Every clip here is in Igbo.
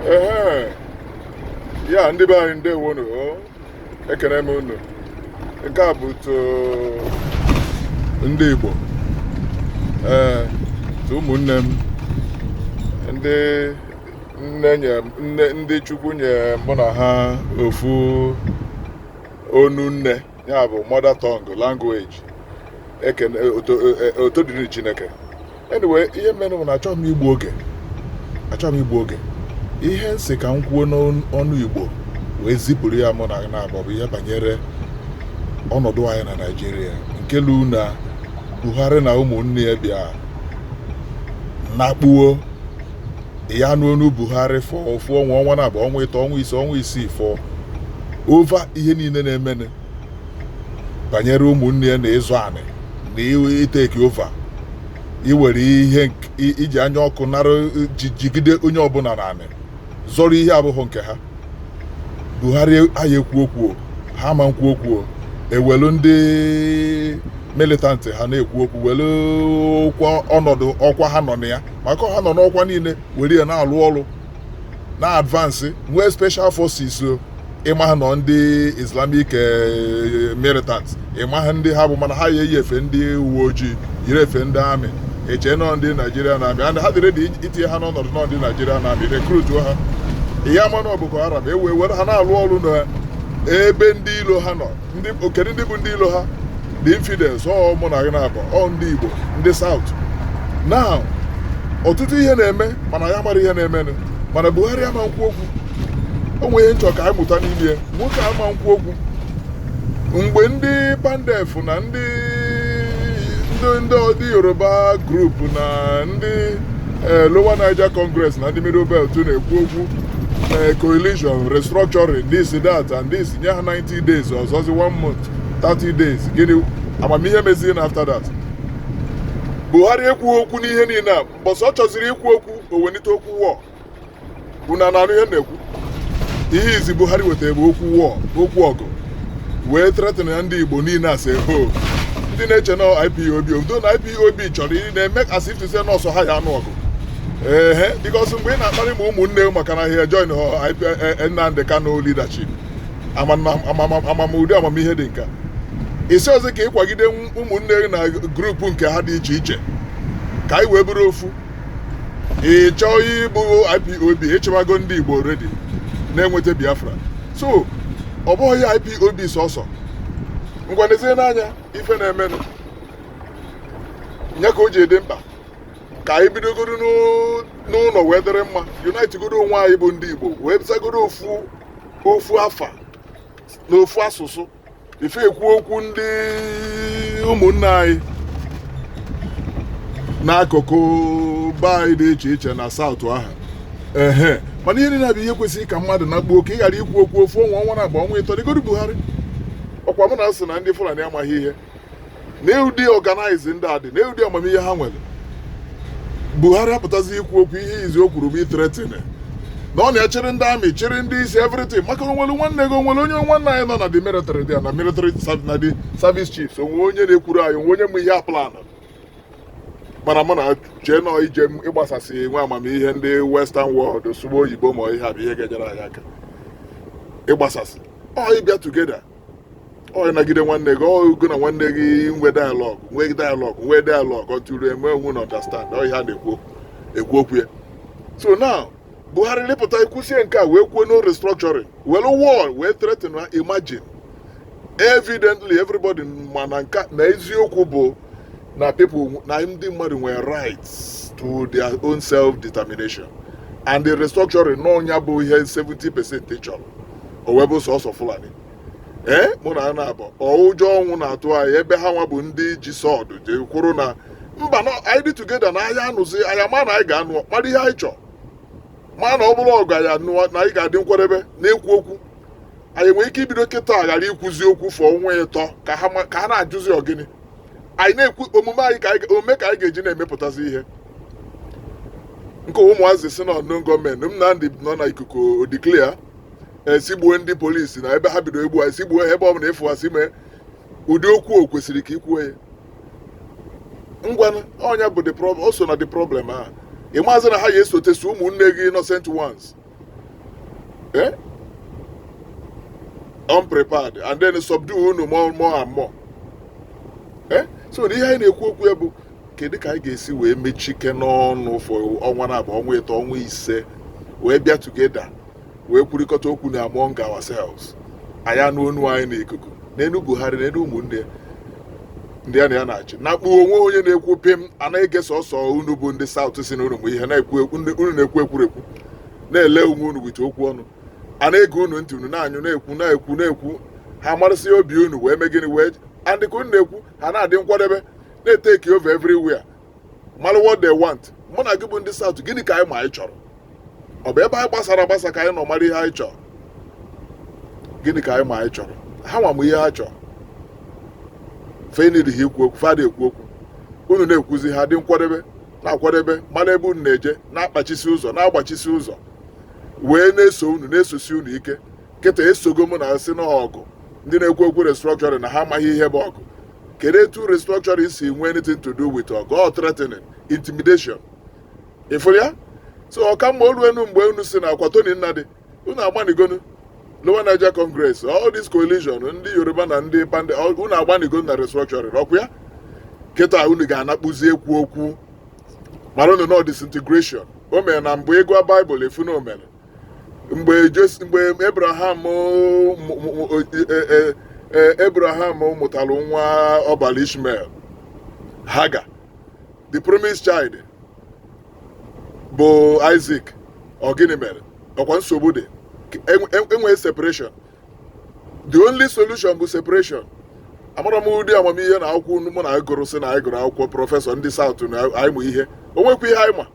ehe ya ndị be anyị ndewonu o ekene m unu nke a bụ to ndị Igbo ee to ụmụnne m ndị nne nye nne ndị Chukwu nye mụ na ha ofu onu nne ya bụ mother tongue language ekene oto e- e- oto dịrị chineke anyway ihe merenụ bụ na achọghị m igbu oge achọghị m igbu oge ihe m sị ka m kwuo n'onu igbo wee zipụrụ ya mụ na ị naabọ bụ ihe banyere ọnọdụ anyị na naijiria nke lu na buhari na ụmụnne ya bịa nakpuo ya anụ onu Buhari for ofu ọnwa ọnwa naabọ ọnwa ịtọ ọnwa ise ọnwa isii for over ihe niile na-emenụ banyere ụmụnne ya na ịzọ anị na i take over iwere ihe iji anya ọkụ nara jigide onye ọbụla nara anị zọrọ ihe abụghị nke ha Buhari anaghị ekwu okwu ha ma nkwu okwu ewelu ndị militant ha na-ekwu okwu welu ọnọdụ ọkwa ha nọ na ya maka ha nọ n'ọkwa niile were ya na-alụ ọrụ na-advance with special forces o ị maghị na ọ ndị islamic eh, militant ị maghị ndị ha bụ mana ha ya eyi efe ndị uwe ojii yiri efe ndị army e chee na ọ ndị nigerian army and ha dị ready itinye ha n'ọnọdụ na ọ ndị nigerian army recruituo ha ị ya ama na ọ boko haram were ha na-alụ ọrụ na ebe ndị ilo ha nọ ndị o kedu ndị bụ ndị ilo ha the infidels ọ mụ na gị naabọ ọ ndị igbo ndị south now ọtụtụ ihe na-eme mana ya mara ihe na-emenụ mana buhari ama nkwu okwu o nwere ihe m chọ ka anyị mụta n'ime ya nwoke ama nkwu okwu mgbe ndị pandef na ndị ndị ndị ọdị yoruba group na ndị eh, lower niger congress na ndị middle belt na-ekwu okwu eh, coalition restructuring this that and this nye ha 90 days ọ fọzi one month 30 days gịnị ama m ihe mezie na after that buhari ekwughị okwu n'ihe niile a mbọsị ọ chọziri ikwu okwu o welite okwu war unu a na-anụ ihe m na-ekwu ihe izi buhari wetara bụ okwu war okwu ọgụ wee threaten ya ndị igbo niile as a whole ndị na-eche na ipob obodo na ipob chọrọ ị na-eme as if to say na ọ sọ ha ya anụ ọgụ ehe because mgbe ị na-akparị ma ụmụnne maka na ha join Nnamdi Kanu leadership ama m ụdị amamihe dị nka isi ọzọ ka ịkwagide ụmụnne na group nke ha dị iche iche ka anyị wee bụrụ ofu ị chọọ ịbụ IPOB ịchịwago ndị Igbo ready na-enweta Biafra so ọ bụghị ya IPOB sọsọ ngwa nezie anya ife na-emenụ nya ka o ji dị mkpa ka anyị bidogodo n'ụnọ wee dịrị mma unite godo onwe anyị bụ ndị Igbo wee zagodo ofu ofu afa na ofu asụsụ ife ekwu okwu ndị ụmụnne anyị n'akụkụ be anyị dị iche iche na South ahụ ehe mana ihe niile bụ ihe kwesịrị ka mmadụ na kpuo ka ị ghara ikwu okwu ofu ọnwa ọnwa naabọ ọnwa ịtọ negodu Buhari ọkwa mụ na-asị na ndị Fulani amaghị ihe nee ụdị organize ndị a dị nee ụdị amamihe ha nwere Buhari apụtazi ikwu okwu ihe izizi o kwuru bụ ị threaten na ọ na-achịrị ndị army chịrị ndị isi everything maka o nwere nwanne gị o nwere onye nwanne anyị nọ na the military dị na military na the service chiefs o nwe onye na-ekwuru anyị o nwe onye ma ihe a plan mana mụ na chee na ọ ije ịgbasasị nwe amamihe ndị western world sụgbuo oyibo ma ihe a bụ ihe ga-enyere anyị aka ịgbasasị ọ ịbịa together ọ ịnagide nwanne gị ọ gị na nwanne gị nwe dialogue nwe dialogue nwe dialogue ọtụrụ enwe onwe na understand ọ ihe a na-ekwu okwu ya so now Buhari lịpụta ikwusie nke a wee kwuo no restructuring were war wee threaten na imagine evidently everybody ma na nka na eziokwu bụ na people na ndị mmadụ nwere rights to their own self determination and the restructuring na ọ nya bụ ihe 70 percent chọrọ o wee bụ sọsọ fulani ee mụ na ana abụ ụjọ ọnwụ na-atụ anyị ebe ha nwa bụ ndị ji sword ji kwuru na mba na anyị dị together na aya anụzi aya mana anyị ga-anọ kpara ihe anyị chọọ mana ọ bụrụ ọgụ anyị anụwa na anyị ga-adị nkwadebe na-ekwu okwu anyị nwere ike ibido kịta ghara ikwuzi okwu for ọnwa ịtọ ka ha ma- ka ha na-ajụzi ọ gịnị anyị na-ekwu omume anyị omume ka anyị ga-eji na-emepụtazi ihe nke ụmụazị sị unknown gunmen Nnamdi nọ na ikuku declare sị gbuo ndị police na ebe ha bido egbu anyị sị gbuo ha ebe ọ bụla ị fụ ha sị mee ụdị okwu o kwesịrị ka i kwuo ya ngwa ọ nya bụ the problem o so na the problem a ị mazị na ha ya esotesi ụmụnne gị innocent ones eh? unprepared and then subdue unu more more and more eh? so na ihe anyị na-ekwu okwu ya bụ kedu ka anyị ga-esi wee mechikene ọnụ for ọnwa naabọ ọnwa ịtọ ọnwa ise wee bịa together wee kwurịkọta okwu na among ourselves aya anụ onu anyị n'ikuku nenụ Buhari nenụ ụmụnne ndị a na ya na-achị na kpuo o nweghị onye na-ekwu pịm anaghị ege sọsọ unu bụ ndị South sị na unu ma ihe unu na-ekwu ekwurekwu na-ele onwe unu with okwu ọnụ a na-ege unu ntị unu na-anyụ na-ekwu na-ekwu na-ekwu ha marasị obi unu wee mee gịnị wee and ka unu na-ekwu ha na-adị nkwadebe na-eteki over everywhere mara what they want mụ na gị bụ ndị South gịnị ka anyị ma anyị chọrọ ọ bụ ebe anyị gbasara agbasa ka anyị nọ mara ihe anyị chọrọ gịnị ka anyị ma anyị chọrọ ha nwa ma ihe ha chọrọ fenid ha ikwu okwu fa ada ekwu okwu unu na-ekwuzi ha dị nkwadebe na-akwadebe mara ebe unu na-eje na-akpachisi ụzọ na-agbachisi ụzọ wee na-eso unu na-esosi unu ike kịta esogo m na-asị na ọgụ ndị na-ekwu okwu restructuring na ha amaghị ihe bụ ọgụ kedu etu restructuring si nwee anything to do with ọgụ or threatening intimidation ị fụrụ ya so ọ ka mma o luenu mgbe unu si na ọkwa Tony Nnadi unu agbanigonu Lower Niger Congress all this coalition ndị Yoruba na ndị PANDEF unu agbanigonu na restructuring ọkwa ya kịta unu ga-anakpụzi ekwu okwu mara unu na ọ disintegration o mere na mgbe ị gụa baịbụl ị fụ na o mere mgbe Jos- mgbe Abraham mụ- mụ- mụ- e- e- e- e- Abraham mụtara nwa ọ bara Ishmael Hagar the promised child bụ Isaac ọ gịnị mere ọkwa nsogbu dị e nwee e, e separation the only solution bụ separation amarọ m ụdị amamihe na akwụkwọ unu mụ na anyị gụrụ si na anyị gụrụ akwụkwọ prọfesọ ndị South na anyị mụ ihe o nwekwa ihe anyị ma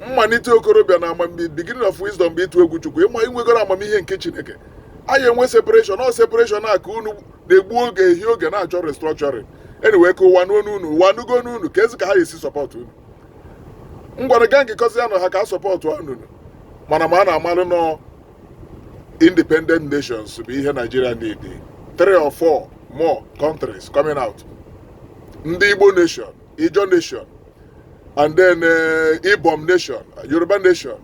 mmalite okorobịa na amamihe beginning of wisdom bụ ịtụ egwu chukwu ịma inwegoro amamihe nke chineke anyị enwe separation ọ separation a ka unu na-egbu oge ehi oge na-achọ restructuring anyway ka ụwa nụ onu unu ụwa nụgo onu unu keezi ka ha esi support unu ngwanụ gaa ngekọzi anụ ha ka a sọpọtụwa unu mana ma a na-amalụ na ọ independent nations bụ ihe Nigeria need three or four more countries coming out ndị Igbo nation Ijaw nation and then eh, Ibom nation Yoruba nation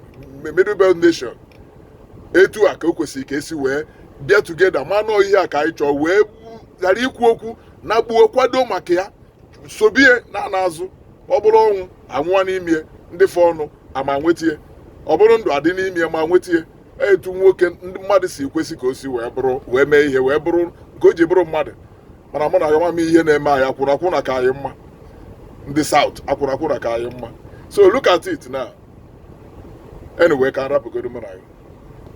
Middle Belt nation etu a ka o kwesịrị ka e si wee bịa together ma na ọ ihe a ka anyị chọọ wee ghara ikwu okwu na gboo kwado maka ya sobie na ana azụ ọ bụrụ ọnwụ a nwụọ n'ime ndị fọọnụ ama nwetie ọ bụrụ ndụ a dị n'ime ma nwetie etu nwoke ndị mmadụ si kwesị ka o si wee bụrụ wee mee ihe wee bụrụ nke o ji bụrụ mmadụ mana mụ na ya ma ama ihe na-eme anyị akwụna akwụna ka anyị mma ndị South akwụna akwụna ka anyị mma so look at it now anyway ka m rapụgodo mụ na ya